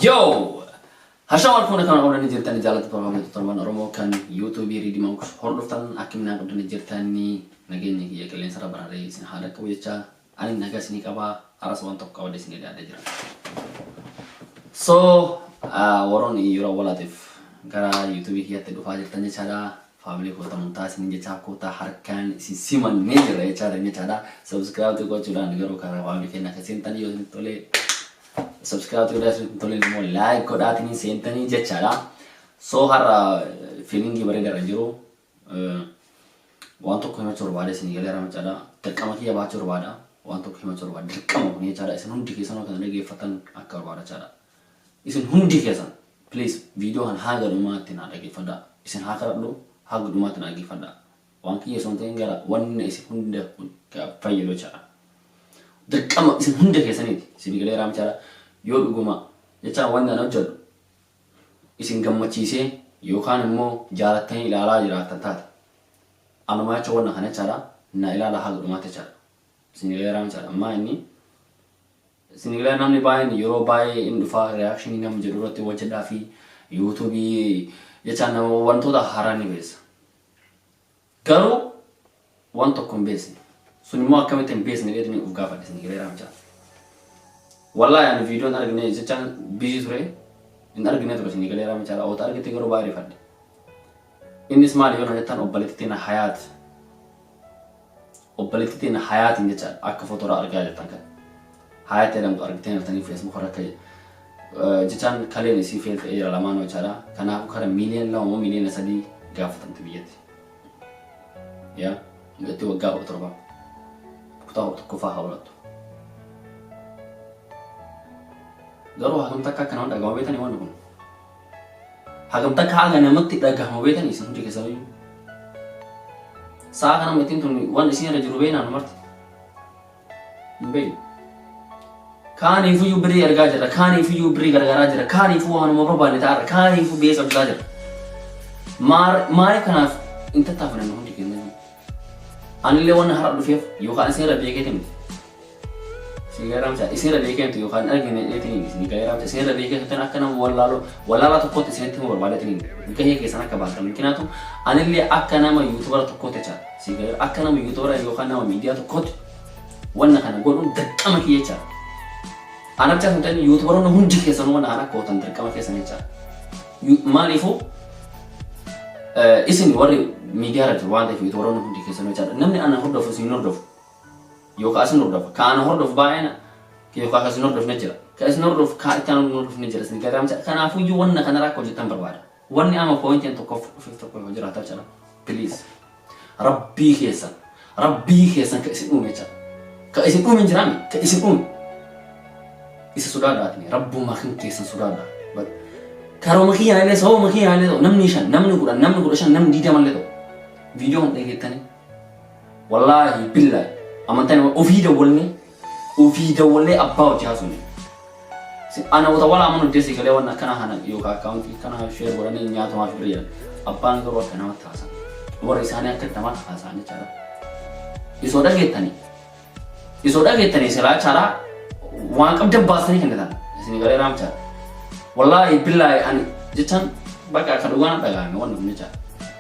Yoo! Hashaa wal fuuna kana oolanii jirtan jaalatti barbaadamtu torban Oromoo kan yuutuubii riidimaan hordoftan akkaminaa qabdanii jirtanii nageenya kiyya qilleensa irra bararee isin haala qabu jechaa Ani naga isini qaba aras wan tokko qabade isini daada jira so waron yero walatif gara youtube kiyati dhufa jirtan jechada family ko tamun ta isini jecha ko ta harkan isin siman ne jira jecha dan jechada subscribe to go chudan garu kara family kena kesin tan yo isin tole subscribe to da isin tole mo like ko da tinin sen tan jechada so har feeling bare dara jiru Waan tokko himachuu barbaada isinii galeera macaadha. Dirqama kiyya baachuu barbaada. Waan tokko himachuu barbaada. Dirqama kun jechaadha. Isin hundi keessanuu kana dhageeffattan akka barbaada jechaadha. Isin hundi keessan please viidiyoo kan haaga dhumaatti naa dhageeffadha. Isin haa kadhadhu haaga dhumaatti naa dhageeffadha. Waan kiyya osoo hin ta'in gara wanna isin hunda kun fayyadu jechaadha. Dirqama isin hunda keessaniiti isinii galeera jechaadha. Yoo dhuguma jechaan wanna ani hojjedhu isin gammachiisee yookaan immoo jaalattanii ilaalaa jiraattan taate anumaa jecha wanna kana jechaadha na ilaala haga dhumaatti jechaadha. Sinileeraan jechaadha ammaa inni sinilee namni baay'een yeroo baay'ee in dhufaa reakshinii namni jedhu irratti hojjedhaa fi yuutuubii jechaan nama wantoota haaraa ni beessa. Garuu waan tokko hin beeksine. Sun immoo akkamitti hin beeksine jedhanii of gaafadhe isin hireeraa mucaa. Wallaahi ani viidiyoon argine jechaan bizii ture hin argine ture isin hireeraa mucaa oota argite garuu baay'ee rifadhe. Innis maali yoo na jettan obboleettitti na hayaat Obboletti teenna Hayaatin jecha akka foto irra argaa jirtan kan Hayat jedhamtu argitani jirtanii Facebook irra akka jechaan kaleen isii fail ta'ee jira lamaanuu jechaadha. Kanaafu kara miliyoon lama moo miliyoona sadii gaafatamti biyyatti. Yaa mucatti waggaa kudha torba kutaa kudha tokkoffaa haa barattu. Garuu hagam takka akka nama dhaga'u beektanii wanni kun. Hagam takka haga namatti dhagahama beetan isin hundi keessanuu. Sa'a kana mittiin tun waan isin irra jiru beeknaan marti. Hin beeknu. Kaaniifuyyuu birrii ergaa jirra, kaaniifuyyuu birrii gargaaraa jirra, kaaniifuu waanuma barbaanne ta'arra, kaaniifuu beessa bitaa jirra. Maaliif kanaaf hin tattaafatan hundi keenya? Anillee wanna har'a dhufeef yookaan isin irra beekeeti miti. Isin garaamsa isin irra beekeetu yookaan argine dheetiin hin isin garaamsa isin irra beekeetu tan akka nama wallaaloo wallaalaa tokkotti isinitti himuu barbaadeetiin hin gahee keessan akka baatan mikinaatu anillee akka nama yuutubara tokkotti jecha isin gara akka nama yuutubara yookaan nama miidiyaa tokkotti wanna kana godhuun dirqama kiyya jecha. Anabchaa hin ta'in yuutubaroonni hundi keessanuu wanna kana akka gootan dirqama keessan jecha. Maaliifuu isin warri miidiyaa irratti waan ta'eef yuutubaroonni hundi keessan jechaadha. Namni ana hordofu isin hordofu yookaan isin hordofa. Ka ana hordofu baay'ina yookaan isin hordofne jira. Ka isin hordofu kaa itti aanu hordofne jira isin gagaamcha. Kanaafuu iyyuu wanna kana rakkoo jettan barbaada. Wanni ama poointiin tokkoof dhufiif tokko yoo jiraata jechaadha. Please. Rabbii keessan, Rabbii keessan ka isin uume jecha. Ka isin uume hin jiraami, ka isin uume. Isa sodaadha atni, Rabbummaa kan keessan sodaadha. Bal- Karooma kiyyaan illee sababuma kiyyaan illee ta'u namni shan, namni kudhan, namni kudha shan, namni diidama illee ta'u. Viidiyoo kan dhageettanii. Wallaahi billaahi amantaan ofii dawwalnee Ofii dawwalee abbaa hojii hasofne. Sin ana wota wala amanu didee sigalee wan akkana kana yoka account kana share godhani hin nyaatu maaf birri jedhan. Abbaan garuu akka namatti haasan. Warri isaanii akka namatti haasaan jechaadha. Isoo dhageettani. Isoo dhageettani silaa chaadha waan qabdan baastanii kennitan. Isin galee raamchaadha. Wallaahi billaahi ani jechaan bakka akka dhugaan dhagaame wanni kun jechaadha.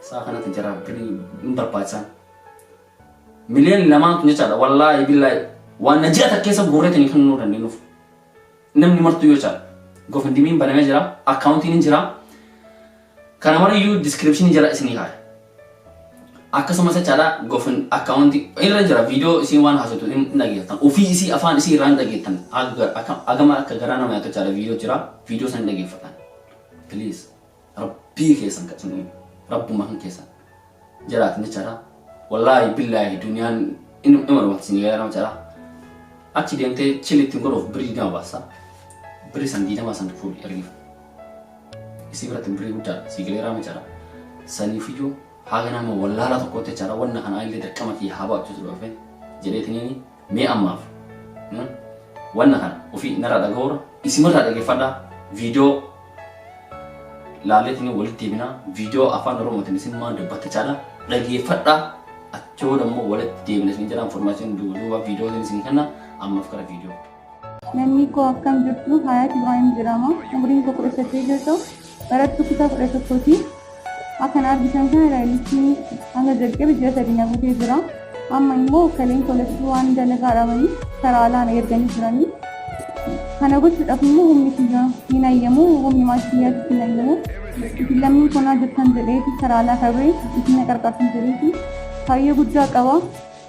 Saa kanatti jara biri hin barbaachisan. Miliyoon lamaan kun jechaadha wallaahi billaahi waan na ji'a takkeessa guurreetiin hin kennuu dandeenyuuf. Namni martuu yoo caala. Gofindimiin banamee jira, akkaawuntiin hin jira. Kana mariyyuu diskiripshinii jala isinii kaaya. Akkasumas jechaadha gofin akkaawuntii irra jira viidiyoo isiin waan haasoftu hin dhageettan. Ofii isii afaan isii irraa hin dhageettan. Agama akka garaa nama yaatu jechaadha viidiyoo jira. Viidiyoo san hin dhageeffatan. Please. Rabbii keessan kan isin uume rabbuma kan keessan jiraatan jechaadha. Wallaahi billaahi duniyaan in- ima dhumatti isin eegaa nama jedha. Achi deemtee chili ittiin godhuuf birrii digdama baasa. Birrii san digdama san fuudhi ergiif. Isii biratti birrii guddaadha. Sii galeeraa jechaadha. Saniifiyyuu haga nama wallaalaa tokkootti jechaadha. Wanna kana illee dirqama kiyya haa ba'achuutu dhufe jedheetiniini. Mee ammaaf wanna kana ofii narraa dhagahurra isimarraa dhaggeeffadhaa viidiyoo laalleetiin walitti deebinaa viidiyoo afaan oromootiin isin maan dubbatta caalaa dhaggeeffadhaa achoo dammoo walitti deebina isin jiraan formaashin duuba viidiyootiin isin kanna ammaaf gara viidiyoo. Namni koo akkam jirtu Hayaat Ibrahim jedhama. Umriin koo kudha saddeet yoo ta'u barattuu kutaa kudha tokkooti. Akkan argitan kana raayilichi hanga jalqabe ji'a sadii na guutee jira. Amma immoo kaleen kolachuu waan dalagaa dhabanii karaa alaa na erganii jiranii. Kana gochuudhaaf immoo humni kiyya hin ayyamu humni maatii kiyyaatti hin ayyamu. Isin lammii konaa jirtan jedheeti karaa alaa kabee isin na qarqartan jedheeti. Kaayyoo guddaa qaba.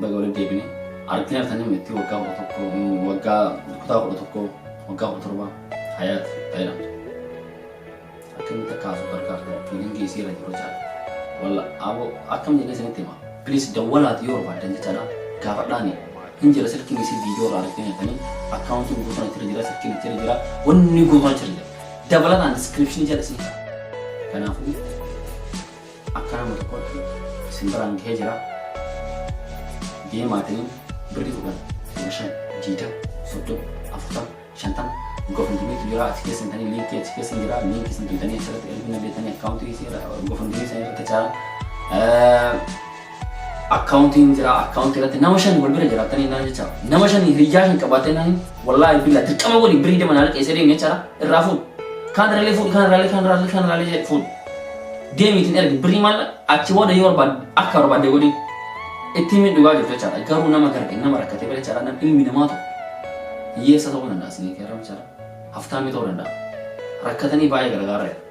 Baga walitti deebine. Argitanii argitanii mitti waggaa kudha tokko waggaa kutaa kudha tokko waggaa kudha torba hayaat fayyadamte. Akkamitti akka haasuu gargaartan fiilingii isii irra jiru jechaadha. Walla aboo akkam jedhee isinitti hima. Please dawwalaati yoo barbaaddan jechaadha. Gaafadhaani hin jira silkiin isii viidiyoo irraa argitanii argitanii akkaawuntii guutuun itti jira silkiin itti jira wanni guutuun itti jira. Dabalataan diskiripshinii jala isin jira. Kanaafuu Akka nama tokkootti isin biraan gahee jira. Deemaatiin birrii kudhan, kudha shan, diidam, soddom, afurtam, shantam gofundimiitu jira achi keessa hin tanii liinkii achi keessa hin jira liinkii isin tuutanii achirratti erguu dandeettanii akkaawuntii gofundimii isin irratti caalan. Account hin jira account irratti nama shan wal bira jiraatanii naan jecha nama shan hiriyyaa shan qabaatee naan wallaahi billaa dirqama godhi birii dama naa liqeessee deemee jira irraa fuudh kaan irraalee fuudh kaan irraalee kaan irraalee kaan irraalee jedhe fuudh deemiitiin ergi birii maal achi booda yoo barbaad akka barbaadde godhi itti himi dhugaa jirtu jechaadha garuu nama garge nama rakkatee bira jechaadha nam ilmi namaa tokko hiyyeessa ta'uu danda'a isinii keerra jechaadha haftaamii ta'uu danda'a rakkatanii baay'ee gargaarra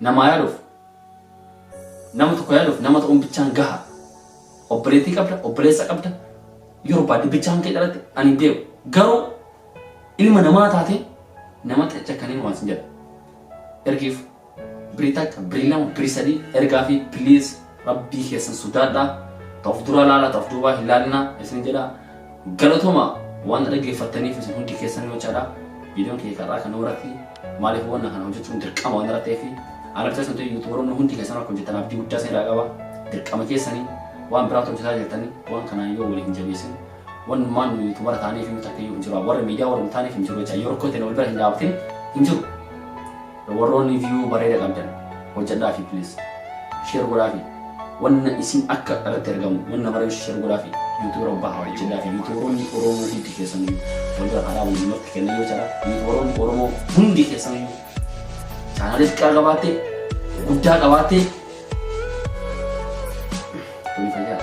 Namaa yaaduuf nama tokko yaaduuf nama ta'uun bichaan gaha. Obboleettii qabda, obboleessa qabda, yoo barbaadde bichaan kee dhalatte ani hin beeku. Garuu ilma namaa taate nama xacha kan hin waasin jedha. Ergiif birii takka, birii lama, birii sadii ergaa fi please Rabbii keessan sodaadha. Ta of duraa laala ta of duubaa hin laalina isin jedha. Galatoma waan na dhaggeeffattaniif isin hundi keessan yoo jechaadha. Viidiyoon kiyya karraa kanuma irratti maaliif wanna kana hojjechuun dirqama waan irra ta'eef ana bicha sun ta'e yuutubaroonni hundi keessan akka hojjetan abdii guddaa isin irraa qaba. Dirqama keessanii waan biraatu hojjetaa jirtanii waan kanaan yoo waliin jabeessin wannumaan nu yuutubara taaniif hin takka yoo hin jiru. Warra miidiyaa warra hin taaneef hin jiru jecha yoo rakkoo ta'e wal bira hin dhaabbatin hin jiru. Warroonni view bareeda qabdan hojjadhaafi please share godhaafi wanna isin akka irratti argamu wanna mara share godhaafi youtube rabbaa haa hojjadhaafi youtuberoonni oromoo hundi keessan walbira haaraa waliinumatti kenna yoo jira youtuberoonni oromoo hundi keessan chaanaalii xiqqaa qabaattee guddaa qabaattee tuni fayyaa